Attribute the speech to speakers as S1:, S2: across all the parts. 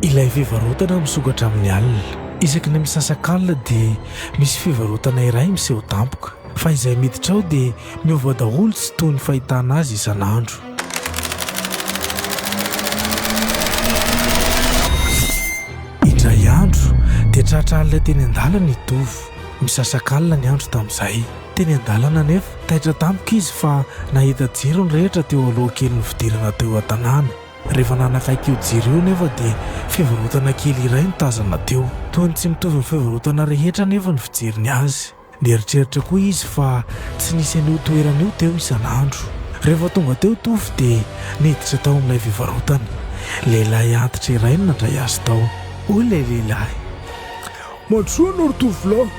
S1: Ilay fivarotana misokatra amin'ny alina. Isaky ny misasak'alina dia misy fivarotana iray miseho tampoka. Fa izay miditra ao dia miova daholo tsy toy ny fahitana azy isan'andro. Indray andro dia tratra alina teny an-dalana i Tovo. Misasak'alina ny andro tamin'izay. Teny an-dalana anefa, taitra tampoka izy fa nahita jiro nirehitra teo aloha kelin'ny fidirana teo an-tanàna. Rehefa nanakaiky io jiro io anefa dia fivarotana kely iray no tazana teo. Toa ny tsy mitovy amin'ny fivarotana rehetra anefa ny fijeriny azy. Nieritreritra koa izy fa tsy nisy an'io toerana io teo isan'andro. Rehefa tonga teo Tovo dia niditra tao amin'ilay fivarotana. Lehilahy antitra iray no nandray azy tao. Hoy ilay lehilahy,
S2: Matoa anao ry tovolahy.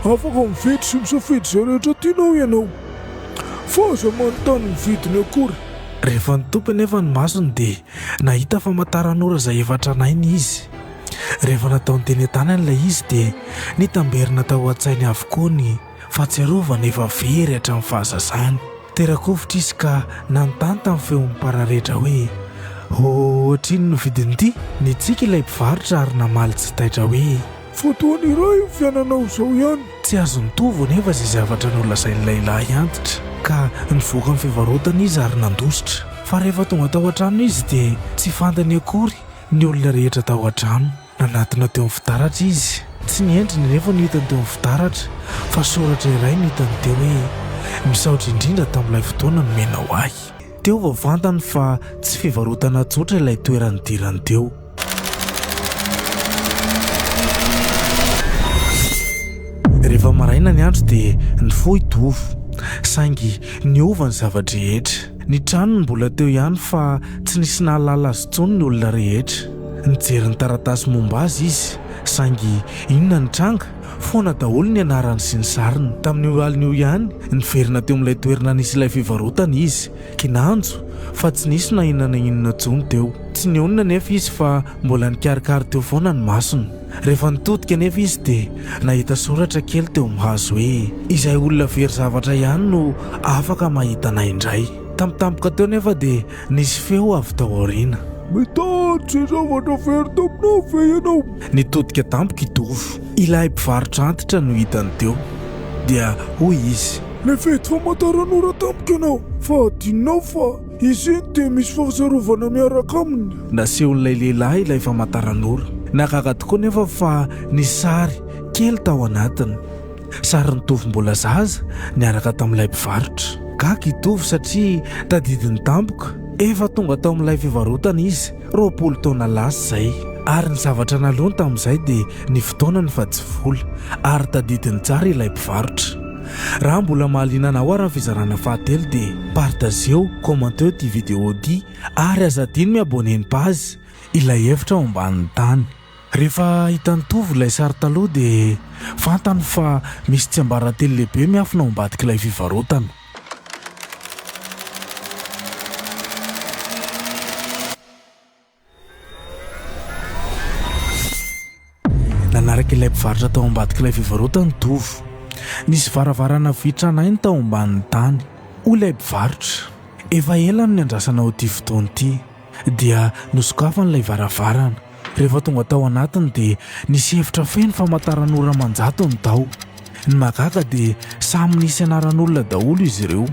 S2: Afaka mividy sy misafidy izay rehetra tianao ianao. Fa aza manontany ny vidiny akory. Rehefa nitopy
S1: anefa ny masony dia nahita famantaran'ora izay efa tranainy izy. Rehefa nataony teny an-tanany ilay izy dia nitamberina tao an-tsainy avokoa ny. Fahatsiarovana efa very hatramin'ny fahazazany. Tera-kovitra izy ka nanontany tamin'ny feon'ny mpararetra hoe, Hoatr'inona no vidin'ity? Nitsiky ilay mpivarotra ary namaly tsy taitra hoe, Fotoana iray
S2: io fiainanao izao ihany. Tsy azo nitovy
S1: anefa izay zavatra nolazain'ny lehilahy antitra, ka nivoaka ny fivarotana izy ary nandositra. Fa rehefa tonga tao an-trano izy, dia tsy fantany akory ny olona rehetra tao an-trano. Nanatona teo amin'ny fitaratra izy. Tsy ny endriny anefa no hitany teo amin'ny fitaratra, fa soratra iray no hitany teo hoe, Misaotra indrindra tamin'ilay fotoana nomenao ahy. Teo vao fantany fa tsy fivarotana tsotra ilay toerana nidirany teo. Rehefa maraina ny andro dia nifoha i Tovo, saingy niova ny zava-drehetra. Ny tranony mbola teo ihany fa tsy nisy nahalala azy intsony ny olona rehetra. Nijery ny taratasy momba azy izy, saingy inona ny tranga? Foana daholo ny anarany sy ny sariny. Tamin'io alina io ihany, niverina teo amin'ilay toerana nisy ilay fivarotana izy. Kinanjo fa tsy nisy na inona na inona intsony teo. Tsy nionona anefa izy fa mbola nikarikary teo foana ny masony. Rehefa nitodika anefa izy dia nahita soratra kely teo amin'ny hazo hoe, Izay olona very zavatra ihany no afaka mahita anay indray. Tampotampoka teo anefa dia Nisy feo avy tao aoriana. Mitaty izay
S2: zavatra very taminao ve ianao? Nitodika tampoka
S1: i Tovo. Ilay mpivarotra antitra no hitany teo, dia hoy izy. Nividy
S2: famantaranora tampoka ianao, fa adinonao fa izy iny dia misy fahatsiarovana miaraka aminy. Nasehon'ilay lehilahy
S1: ilay famantaranora. Nahagaga tokoa anefa fa nisy sary kely tao anatiny. Sarin'i Tovo mbola zaza niaraka tamin'ilay mpivarotra. Gaga i Tovo satria tadidiny tampoka. Efa tonga tao amin'ilay fivarotana izy roapolo taona lasa izay, ary ny zavatra naleony tamin'izay dia ny fotoanany fa tsy vola, ary tadidiny tsara ilay mpivarotra. Raha mbola mahaliana anao ary ny fizarana fahatelo dia partageo, commenteo ity vidéo ity ary aza adino mi-abonner ny page Ilay efitra ao ambanin'ny tany. Rehefa hitan'i Tovo ilay sary taloha dia fantany fa misy tsiambaratelo lehibe miafina ao ambadik'ilay fivarotana. Nanaraka ilay mpivarotra tao ambadik'ilay fivarotana i Tovo. Nisy varavarana vy tranainy tao ambanin'ny tany. Hoy ilay mpivarotra, Efa ela no niandrasana ho ity fotoana ity. Dia nosokafany ilay varavarana. Rehefa tonga tao anatiny dia nisy efitra feno famantaran'ora aman-jatony tao. Ny mahagaga dia samy nisy anaran'olona daholo izy ireo.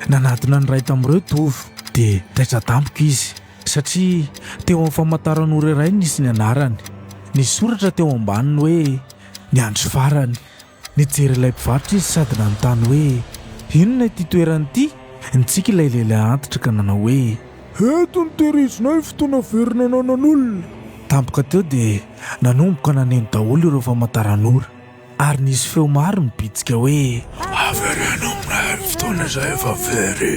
S1: Nanadina ny iray tamin'ireo Tovo, dia taitra tampoka izy, satria teo amin'ny famantaran'ora iray nisy ny anarany. Nisy soratra teo ambaniny hoe, Ny andro farany. Nijery ilay mpivarotra izy sady nanontany hoe, Inona ity toerana ity? Nitsiky ilay lehilahy antitra ka nanao hoe, Eto no
S2: tehirizinay fotoana very nananan'olona. Tampoka teo
S1: dia nanomboka naneno daholo ireo famantaran'ora, ary nisy feo maro nibitsika hoe, Avereno
S2: aminay ny fotoana izay efa very.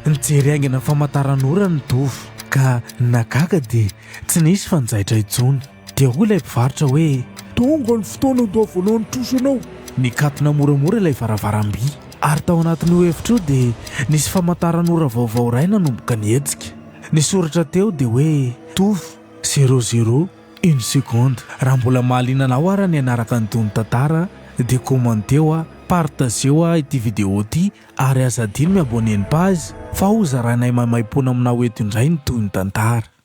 S2: Nijery
S1: haingana ny famantaran'ora ny Dova, ka nahagaga dia tsy nisy fanjaitra intsony. Dia hoy ilay mpivarotra hoe, Tonga ny fotoana
S2: ho toa voalohan'ny trosa ianao. Nikatona moramora
S1: ilay varavaram-by, ary tao anatin'io efitra io dia nisy famantaran'ora vaovao iray nanomboka nihetsika. Ny soratra teo dia hoe, Tuf. Zero zero une seconde. Raha mbola mahaliana anao ary ny hanaraka ny tonon-tantara dia commenteo a, partageo a ity video ity ary aza adino mi-abonner ny page fa ho zarainay maimaimpoana aminao eto indray ny tohin-tantara.